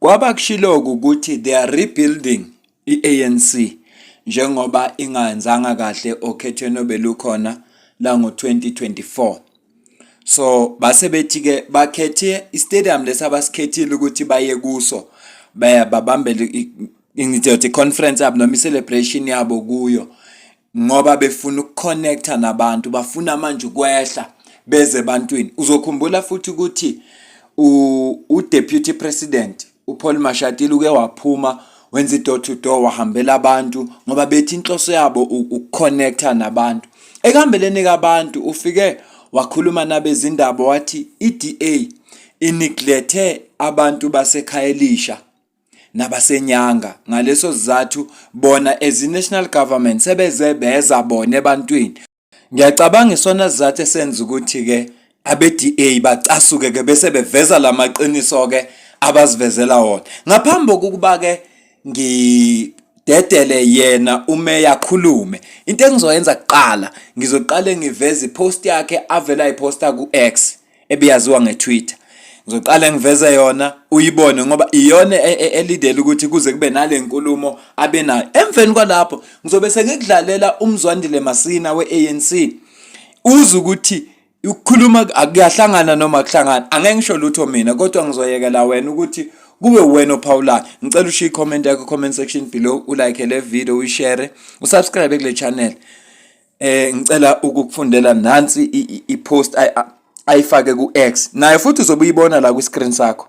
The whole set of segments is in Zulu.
Kwabakushiloku ukuthi they are rebuilding i-ANC njengoba ingayenzanga kahle okhethweni obelukhona lango-2024. So base bethi-ke bakhethe istadium lesi abasikhethile ukuthi baye kuso babambele ngizothi i-conference yabo noma i-celebration yabo kuyo ngoba befuna ukuconnecta nabantu bafuna manje ukwehla beze ebantwini uzokhumbula futhi ukuthi udeputy president uPaul Mashatile uke waphuma wenza i-door to door wahambela abantu ngoba bethi inhloso yabo ukuconnecta nabantu ekuhambeleni kabantu ufike wakhuluma nabezindaba wathi i-DA iniglethe abantu basekhaya elisha nabasenyanga ngaleso sizathu bona as i-national government sebeze beza bona ebantwini ngiyacabanga isona sizathu esenza ukuthi-ke abe-da bacasuke-ke bese beveza la maqiniso-ke abazivezela wona ngaphambi kokuba-ke ngidedele yena umeya khulume into engizoyenza kuqala ngizoqale ngiveze ipost yakhe avela iposta ku-x ebiyaziwa ngeTwitter ngizoqala ngiveze yona uyibone ngoba iyona e, e, elidela ukuthi kuze kube nale nkulumo abenayo emveni kwalapho ngizobe sengikudlalela umzwandile masina we-anc uze ukuthi ukukhuluma akuyahlangana noma kuhlangana angeke ngisho lutho mina kodwa ngizoyekela wena ukuthi kube wena ophawulayo ngicela ushiye i-comment yakho comment section below ulike le video uyishare usubscribe kule channel eh ngicela ukukufundela nansi i-post ayifake ku-X naye futhi uzobe uyibona la kwi-screen sakho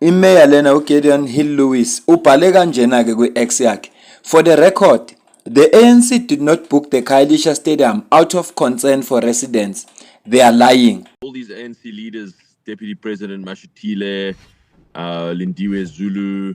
imeya lena uGideon Hill Lewis ubhale kanjena ke kwi-X yakhe for the record the ANC did not book the Khayelitsha Stadium out of concern for residents they are lying all these ANC leaders deputy president Mashutile uh Lindiwe Zulu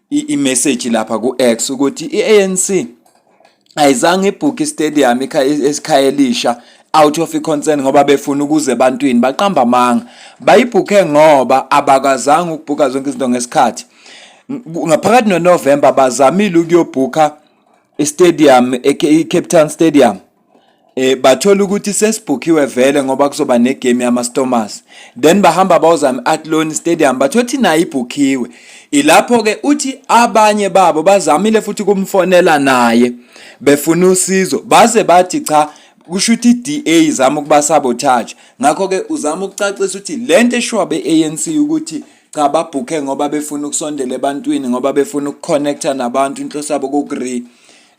i-message lapha ku-X ukuthi i-ANC ayizange ibhuke istadium esikhaya elisha out of i-concern ngoba befuna ukuze ebantwini baqamba amanga bayibhukhe ngoba abakazange ukubhuka zonke izinto ngesikhathi ngaphakathi noNovember bazamile ukuyobhukha istadium iCape Town Stadium eh bathola ukuthi sesibhukhiwe vele ngoba kuzoba negame yama Stormers then bahamba bawozama Athlone Stadium bathothi nayo ibhukhiwe ilapho ke uthi abanye babo bazamile futhi kumfonela naye befuna usizo baze bathi cha kusho ukuthi iDA izama ukuba sabotage ngakho ke uzama ukucacisa ukuthi lento eshiwa beANC ukuthi cha babhukhe ngoba befuna ukusondela ebantwini ngoba befuna ukuconnecta nabantu inhloso yabo kokure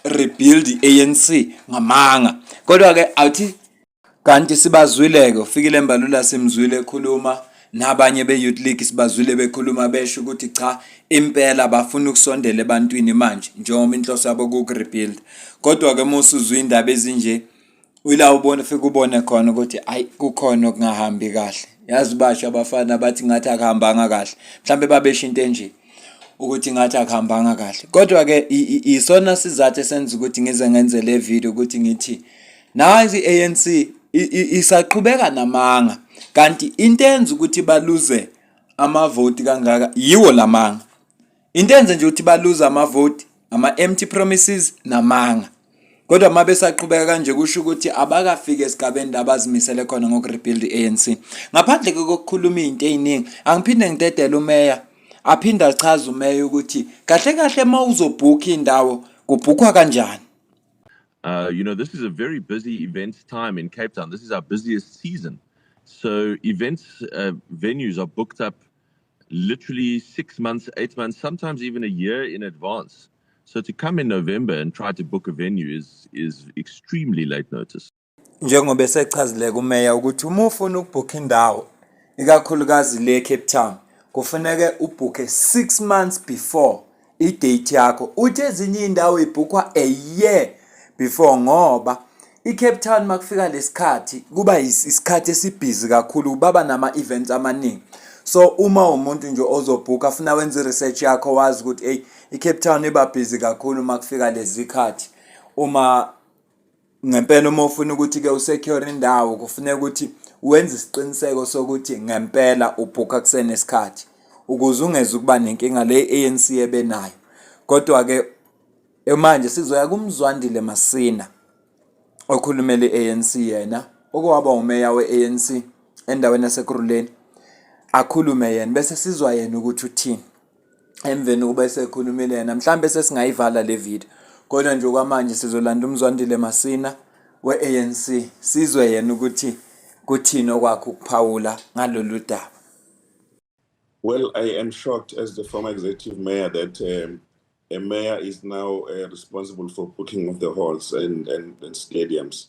rebuild iANC ngamanga kodwa ke awuthi kanti sibazwileke ufikile embalula simzwile ekhuluma nabanye be-youth league sibazwile bekhuluma besho ukuthi cha impela bafuna ukusondela ebantwini manje njengoba inhloso yabo kukurebuild kodwa-ke uma usuzwa iy'ndaba ezinje uyila ubona ufike ubone khona ukuthi ayi kukhona okungahambi kahle yazi basho abafana abathi ngathi akuhambanga kahle mhlawumbe babesho into enje ukuthi ngathi akuhambanga kahle kodwa ke isona sizathu esenza ukuthi ngize ngenze le video ukuthi ngithi nazi ANC isaqhubeka namanga kanti into enza ukuthi baluze amavoti kangaka yiwo lamanga into enze nje ukuthi baluza amavoti ama-empty promises namanga kodwa uma besaqhubeka kanje kusho ukuthi abakafiki esigabeni la bazimisele khona ngokurebuild i-anc ngaphandle kokukhuluma iy'nto ey'ningi angiphinde ngidedele umeya aphinde achaze umeya ukuthi kahle kahle uma uzobhukha indawo kubhukhwa kanjani Uh, you know, this is a very busy events time in Cape Town. This is our busiest season. So events uh, venues are booked up literally six months, eight months, sometimes even a year in advance. So to come in November and try to book a venue is, is extremely late notice. Njengoba esechazile kumeya ukuthi uma ufuna ukubhukha indawo ikakhulukazi le Cape Town kufuneke ubhukhe 6 months before idate yakho uthi ezinye indawo ibhukhwa a year before ngoba iCape Town makufika lesikhathi kuba isikhathi esibhizi kakhulu baba nama events amaningi so uma umuntu nje ozobhuka afuna wenza research yakho wazi ukuthi hey iCape Town iba busy kakhulu makufika lezikhathi uma ngempela uma ufuna ukuthi-ke usecure indawo kufuneka ukuthi wenze isiqiniseko sokuthi ngempela ubhukha kusenesikhathi ukuze ungeze ukuba nenkinga le i-anc ebe nayo kodwa-ke manje sizoya kumzwandile masina okhulumela i-anc yena okwaba umeya we-anc endaweni yasekuruleni akhulume yena bese sizwa yena ukuthi uthini emveni ukuba esekhulumile yena mhlawumbe sesingayivala le video kodwa nje kwamanje sizolanda umzwandile masina we-anc sizwe yena ukuthi kuthini okwakho ukuphawula ngalolu daba well i am shocked as the former executive mayor that um, a mayor is now uh, responsible for booking of the halls and, and, and stadiums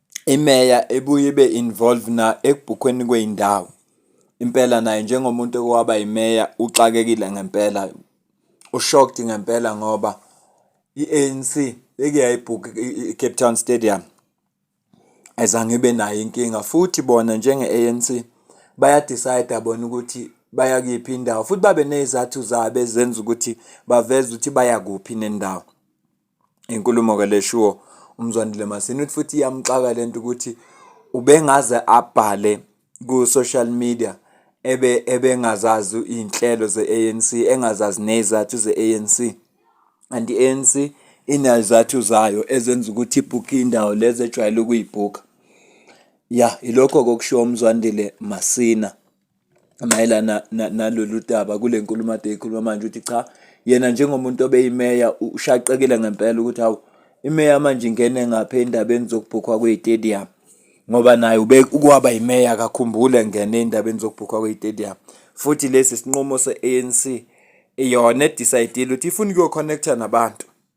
imeya ebuye ibe involved na ekubhukhweni kwey'ndawo. Impela naye njengomuntu owaba yimeya uxakekile ngempela, u-shocked ngempela ngoba i-A_N_C beke yayibhukha i-Cape Town Stadium, ayizange ibe nayo inkinga. Futhi bona njenge-A_N_C baya-decide-a bona ukuthi baya kuyiphi indawo, futhi babe ney'zathu zabo ezenza ukuthi baveze ukuthi baya kuphi nendawo. inkulumo ke leshiwo uMzwandile Masini uthi futhi iyamxaka lento ukuthi ubengaze abhale ku social media ebe ebengazazi izinhlelo ze-ANC engazazi nezathu ze-ANC anti i-ANC inezathu zayo ezenza ukuthi ibhukhe indawo lezi ejwayele ukuyibhukha ya ilokho kokushiwo uMzwandile Masina mayelana nalolu daba kule nkulumo ade ikhuluma manje ukuthi cha yena njengomuntu obeyimeya ushaqekile ngempela ukuthi hawu imeya manje ingene ngapha endabeni zokubhukhwa kwey'tedium ngoba naye ukwaba yimeya akakhumbule ngene endabeni zokubhukhwa kwey'tedium futhi lesi sinqumo se-anc yona edisayidile ukuthi ifuna ukuyokhonekhtha nabantu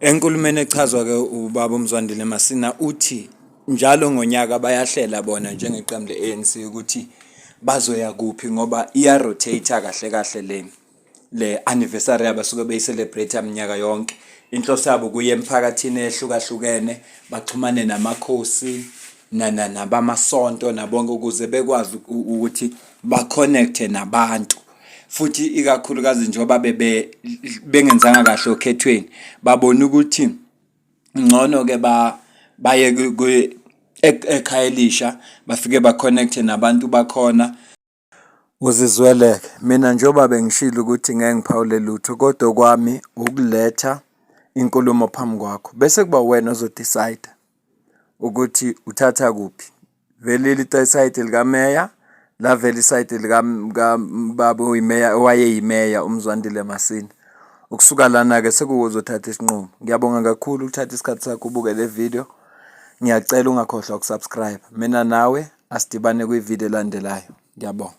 Enkulumeni echazwa ke ubaba uMzwandile Masina uthi njalo ngonyaka bayahlela bona njengeqembu le-ANC ukuthi bazoya kuphi ngoba iya-rotate kahle kahle le le anniversary abasuke beyi-celebrate minyaka yonke. Inhloso yabo kuye emphakathini ehlukahlukene baxhumane namakhosi nabamasonto nabonke ukuze bekwazi ukuthi ba-connect-e nabantu. futhi ikakhulukazi njengoba bebe bengenzanga kahle okhethweni babona ukuthi ngcono ke ba baye kwi- ek- ekhaya elisha bafike baconnecte nabantu bakhona uzizweleke mina njengoba bengishilo ukuthi ngeke ngiphawule lutho kodwa okwami ukuletha inkulumo phambi kwakho bese kuba wena ozodecide ukuthi uthatha kuphi vele lisayidi likameya lavela isayidi likababa oyimeya owayeyimeya umzwandile masini ukusuka lana-ke sekuwuzothatha isinqumo ngiyabonga kakhulu ukuthatha isikhathi sakho ubuke le video ngiyacela ungakhohlwa ukusubscribe mina nawe asidibane kwividiyo elandelayo ngiyabonga